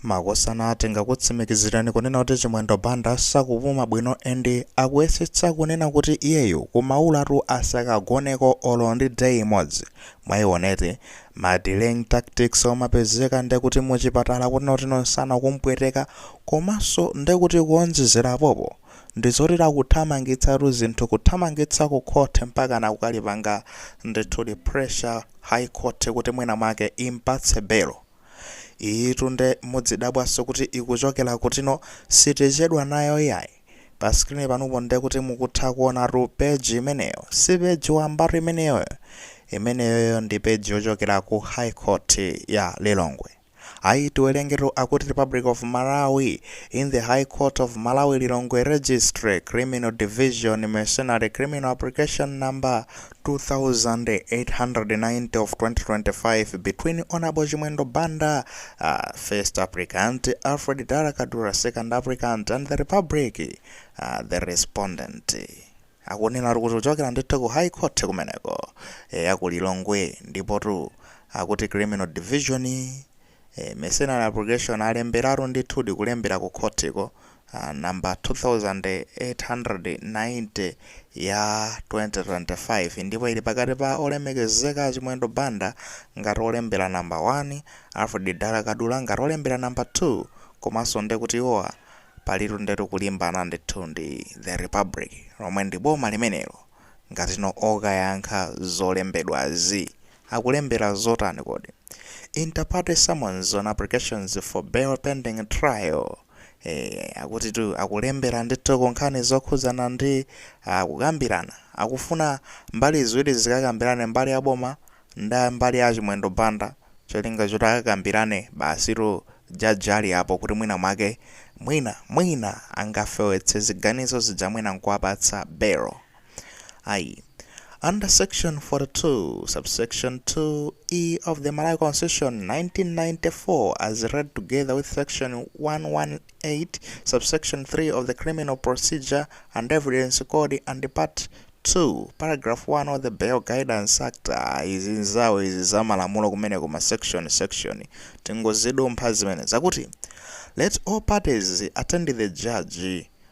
Makosana tingakutsimikizirani kunena kuti Chimwendo Banda sakupuma bwino and akuyesetsa kunena kuti iyeyu kumaulatu asakagoneko olo ndi day imodzi. Mwaioneti ma delaying tactics omapezeka ndekuti mu chipatala kunena kuti no nsana kumpweteka komanso ndekuti kuonjezera apopo ndizoti akuthamangitsatu zinthu kuthamangitsa ku court mpakana kukaipanga ndithudi pressure high court kuti mwina mwake impatse belo. Iyitu nde mudzidabwanso kuti ikuchokera kutino sitichedwa nayo yayi. Pa screen panupo ndekuti mukutha kuonatu page imeneyo. Si page wambatu imeneyoyo. Imeneyoyo ndi page yochokera ku High Court ya Lilongwe. Ayi tiwerengetu akuti Republic of Malawi in the High Court of Malawi Lilongwe Registry Criminal Division Miscellaneous Criminal Application Number 2890 of 2025 between Honorable Chimwendo Banda, uh, first applicant, Alfred Dala Kadula, second applicant, and the Republic, uh, the respondent. akunena kuti kuchokera ndithu ku high court kumeneko e, ya ku lilongwe ndipotu akuti criminal division e, miscellaneous application alemberatu ndithudi kulembera ku khotiko number 2890 ya 2025 ndipo ili pakati pa Olemekezeka a Chimwendo Banda ngati olembela number 1, Alfred Dala Kadula ngati olembela number 2 komanso ndekuti iwowa palitu ndetu kulimbana ndithu ndi The Republic lomwe ndi boma limenelo ngati no okayankha zolembedwazi akulembela zotani kodi? Inter-partes summons on applications for bail pending trial. Eee akutitu akulembera ndithu ku nkhani zokhudzana ndi ah, kukambirana akufuna mbali ziwiri zikakambirane mbali ya boma ndi mbali ya Chimwendo Banda cholinga choti akakambirane basitu judge ali apo kuti mwina mwake mwina mwina angafewetse ziganizo zija mwina nkuwapatsa belo. ayi under section 42 subsection 2 e of the malawi constitution 1994 as read together with section 118 subsection 3 of the criminal procedure and evidence code and part 2 paragraph 1 of the bail guidance act ah, izi nzawo izi za malamulo kumeneko ma section section tingozidumpha zimene zakuti let all parties attend the judge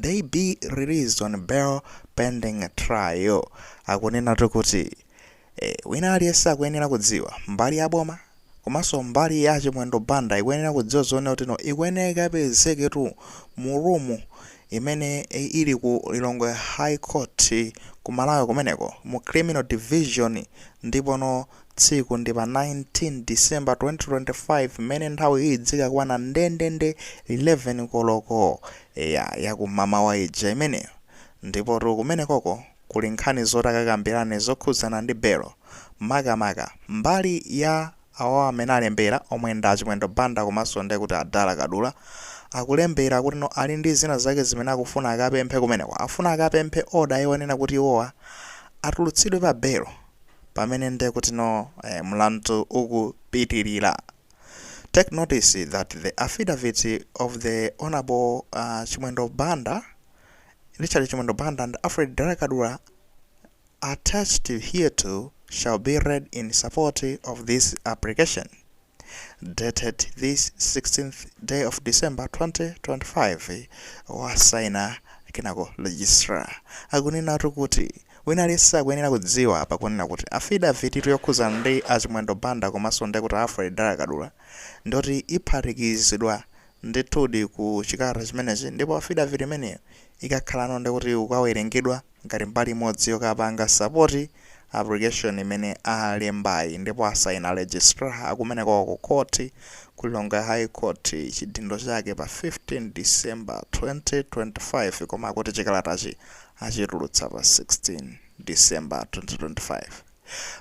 they be released on bail pending trial akunenatu kuti eh, wina aliyense akuyenera kudziwa mbali ya boma komanso mbali ya chimwendo banda ikuyenera kudziwa zonena kuti no ikuyenera ikapezeketu mu rumu imene eh, ili ku lilongwe high court ku malawi kumeneko mu criminal division ndipono Tsiku ndi pa 19 December 2025 mmene nthawi izidzakwana ndendende 11 koloko eya yakumamawa ija imeneyo. Ndipotu kumenekoko kuli nkhani zoti akakambirane zokhudzana ndi belo. Makamaka mbali ya awawa amene alembera omwe ndi a Chimwendo Banda komanso ndekuti a Dala Kadula akulembera kutino ali ndi zina zake zimene akufuna akapemphe kumeneko. Afuna akapemphe order yonena kuti iwowa atulutsidwe pa belo. pamene nde kuti no mlandu uku pitilila take notice that the affidavit of the Hon Chimwendo Banda Richard Chimwendo Banda and Alfred Dara Kadula attached hereto shall be read in support of this application. dated this 16th day of December 2025 wasaina kenako registrar akunena kuti wina aliyense akuyenera kudziwa apa kunena kuti affidavit yokhudzana ndi a Chimwendo Banda komanso ndi kuti a Alfred Dala Kadula ndiyoti iphatikizidwa ndithudi ku chikalata chimenechi ndipo afidaviti imeneyo ikakhalano ndikuti ikawerengedwa ngati mbali imodzi yokapanga sapoti aplikeshoni imene alembayi ndipo asaina Registrar akumeneko ku khoti ku Lilongwe High Court chidindo chake pa 15 December 2025 koma akuti chikalatachi achitulutsa pa 16 December 2025.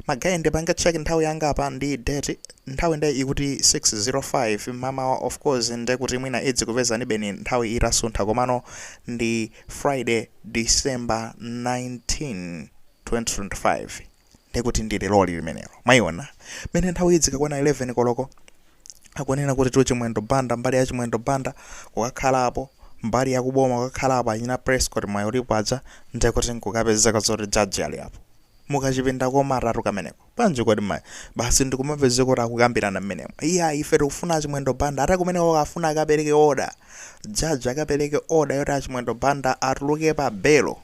Ma guy ndipanga check nthawi yanga apa ndi date nthawi nde ikuti 6:05 mamawa of course nde kuti mwina idzikupezanibe nthawi itasuntha komano ndi Friday December 19 2025 nde kuti ndi leroli limenelo mwaiona mene nthawi idzikakwana 11 koloko akunena kuti tu Chimwendo Banda mbali ya Chimwendo Banda kukakhala apo mbali ya kuboma kukakhala apo achina Prescott mwayi ulipo aja nde kuti nkukapezeka zoti judge ali apo mukachipinda komatatu kameneko. Bwanji kodi mayi? Basi ndikumapezeka kuti akukambirana mmenemo. Iyayi ife tikufuna a Chimwendo Banda ati kumeneko akafuna akapereke order. Judge akapereke order yoti a Chimwendo Banda atuluke pa belo.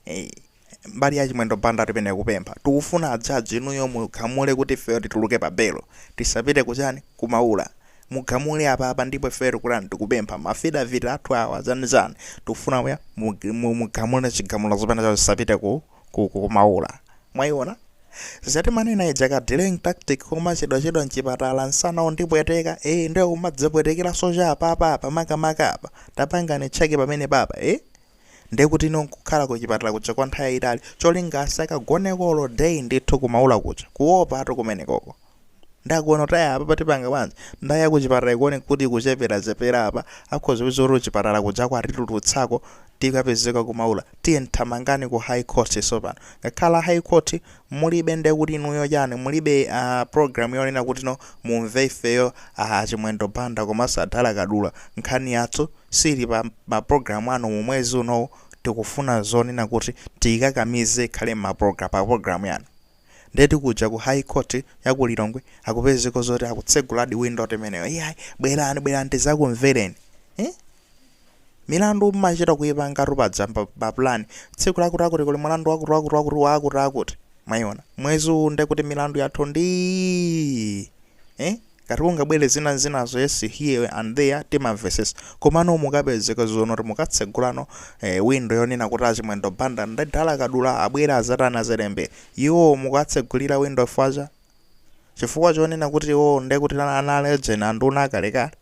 Hey. mbali ya Chimwendo Banda atipene kupempha. Tikufuna a judge inuyo mugamule kuti ifeyo tituluke pa belo. Tisapite kuchani? Kumaula. Mugamule apa apa ndipo ifeyo tikutani tikupempha. Mafidavit athu awa chani chani. Tikufuna muya mu- mu- mugamule chigamulo chimene chawo tisapite ku ku ku kumaula mwaiona za timanena ija ka delaying tactic komachedwachedwa mchipatala msana undipweteka eh ndio kumadzapwetekeranso cha apapa apa makamaka apa tapangani cheke pamene papa eh ndiye kuti ino nkukhala kuchipatala kuja kwa nthawi yayitali cholinga asakagonekolo day ndithu kumaula kuja kuopa atu kumenekoko Ndakuonatu apapa tipanga bwanji? Nde ya kuchipatala ikuoneka kuti ikucheperachepera apa, akhoza kupeza kuti kuchipatala kujako atitulutsako tikapezeka kumaula. Tiyeni thamangani ku High Court tsopano. Ngakhala High Court mulibe ndiye kuti inuyo chani mulibe a program yonena kutino mumve ifeyo a Chimwendo Banda komanso a Dala Kadula. Nkhani yathu siili pa ma program anu mu mwezi unowu tikufuna zonena kuti tiikakamize ikhale mma program pa program yanu. Ndetu kuja ku high court ya ku Lilongwe akupezeka zoti akutseguladi window imeneyo. Iyayi, bwerani bwerani tizakumvereni. Eh? Milandu mmachita kuipangatu padzana pa plan. Tsiku lakuti lakuti kuli mulandu wakuti wakuti wakuti wakuti akuti. Mwaiona. Mwezi uwu ndekuti milandu yathu ndi eh? Ngati kungabwere zina zinazo yes here and there timamvesetsa komano mukapezeka zoona kuti mukatsegulano eh, window yonena kuti achimwendo banda ndi dala kadula abwere azatani azerembe iwo mukatsegulira window fwacha chifukwa chonena kuti iwo ndekuti ana a legend anduna akalekale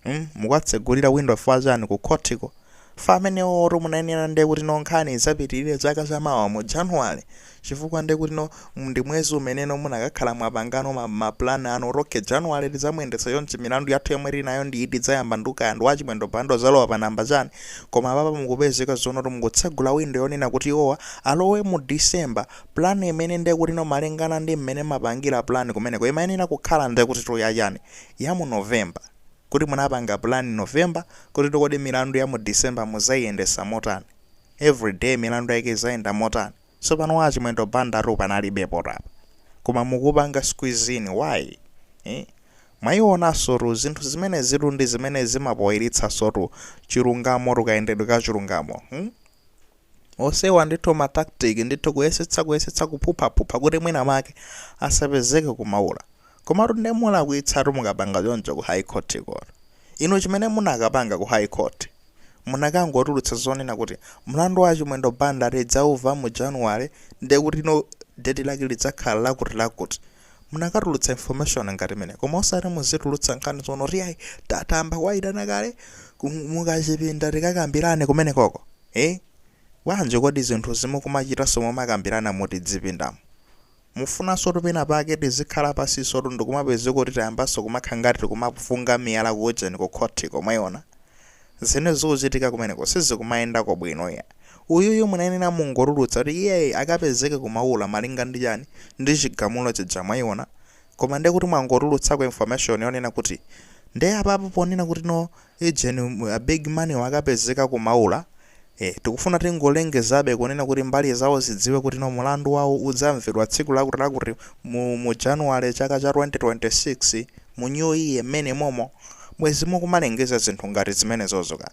mm mukuwatsegulira window fwa chani ku khoti ko? chifukwa amenewowotu munayenera nde kuti no nkhani idzapitilire chaka cha mawa mu January chifukwa nde kuti no ndi mwezi umene no munakakhala mwapangano ma plan anu kuti okay January tidzamuyendetsa chonchi milandu yathu yomwe tili nayo ndi iti idzayamba nde kaya ndi wa Chimwendo Banda udzalowa pa number chani koma apapa mukupezeka zono kuti mukutsegula window yonena kuti iwowa alowe mu December plan imene nde kuti no malingana ndi mmene mapangira plan kumeneko imayenera kukhala nde kuti tu ya chani? ya mu November kuti munapanga plan November kuti kodi milandu ya mu December muzaiyendesa motani, every day milandu yake izayenda motani, sopano a Chimwendo Bandatu panalibepotu apa koma mukupanga squeeze in why iih mwaionansotu zinthu zimenezitu ndizimene zimapoiritsansotu chilungamotu kayendedwe ka chilungamo hmm. osewa ndithu ma tactic ndithu kuyesetsa kuyesetsa kuphuphaphupha kuti mwina make asapezeke kumaula komatu nde mulakwitsatu mukapanga choncho ku high court ko inu chimene munakapanga ku high court munakangotulutsa zonena kuti mlandu wa chimwendo banda tidzauva mu january nde kuti no date lake lidzakhala lakuti lakuti munakatulutsa information ngati imeneyo koma osati muzitulutsa nkhani zono kuti ayi tayamba kuwaitana kale ku- mukachipinda tikakambirane kumene koko Eh? Bwanji kodi zinthuzi mukumachitanso mumakambirana mu tidzipindamu? Mufunansotu pena pake tizikhala pansisotu ndikumapezeka kuti tayambanso kumakhala ngati tikumafunga miyala ku ujeni ku khothiko, mwaiona? Zimene zikuchitika kumeneko sizikumayendako bwino iyayi. Uyuyu munayenera mungotulutsa kuti iyeyi akapezeke ku Maula malinga ndi chani, ndi chigamulo chija mwaiona? Koma ndiye kuti mwangotulutsako information yonena kuti Nde apapa ponena kuti no Agent a big money wakapezeka ku Maula ee tikufuna tingolengezabe kunena kuti mbali zawo zidziwe kuti no mulandu wawo udzamvedwa tsiku lakuti lakuti mu mu January chaka cha 2026 mu new year mmene momo bwezi mukumalengeza zinthu ngati zimenezozo ka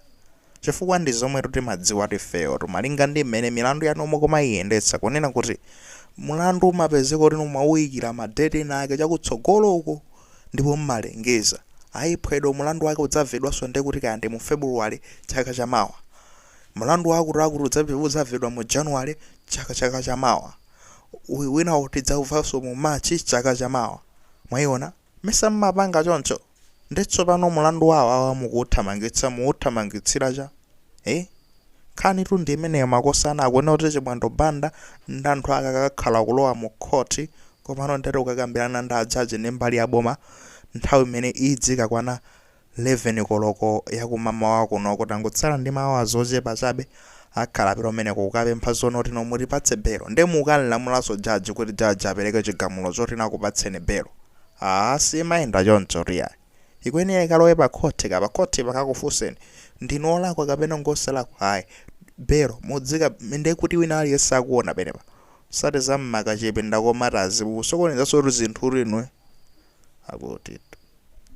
chifukwa ndi zomwetu timadziwatu ifeyotu malinga ndi mmene milandu yanu mukumayiyendetsa kunena kuti mulandu umapezeka kuti no mwawuyikira ma date ena ake chakutsogolo uko Ndipo mmalengeza, ayi phwedwe mulandu wake udzamvedwanso ndekuti kaya ndi mu February chaka cha mawa. Mulandu wa akuti akuti udzamv udzamvedwa mu January chaka chaka cha mawa. Winawu tidzauvanso mu March chaka cha mawa. Mwaiona? Mesa mmapanga choncho? Nde tsopano mulandu wa awawa mukuuthamangitsa muuthamangitsira cha? Eeh? Nkhanitu ndi imeneyo makosana akunena kuti Chimwendo Banda ndi anthu ake akakakhala kulowa mu court komano ndiyetu kukakambilana ndi a judge ndi mbali ya boma nthawi imene idzikakwana 11 koloko ya kumamawa kunoko tangotsala ndi ma hours ochepa chabe akhala akupita kumeneko kukapempha zonoti inu mutipatse belo nde mukukanlamulanso judge kuti judge apeleke chigamulo choti nakupatseni belo aah simayenda chonchotu yayi. Ikuyenera ikalowe pa khoti ka pa khoti pakakufunseni ndinu olakwa kapena ndinu osalakwa ayi belo mudzika nde kuti wina aliyense akuona penepa osati za m'ma chamber komatu mukusokonezansotu zinthutu inuyo akuti